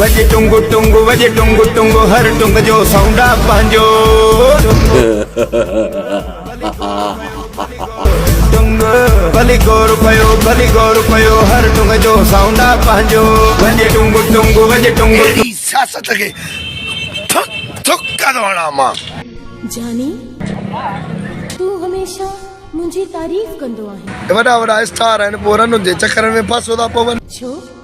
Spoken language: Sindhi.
وڄ ٽنگ ٽنگ وڄ ٽنگ ٽنگ هر ٽنگ جو سائونڊ آ پنهنجو ٽنگ ڀلي گور پيو ڀلي گور پيو هر ٽنگ جو سائونڊ آ پنهنجو وڄ ٽنگ ٽنگ وڄ ٽنگ اهڙي سياست کي ٿڪ ٿڪ ڪري ٿو هڻان مان جاني تون هميشه منهنجي تعريف ڪندو آهين. وڏا وڏا اسٽار آهن پوء رنن جي چڪرن ۾ ڦاسو ٿا پون. ڇو؟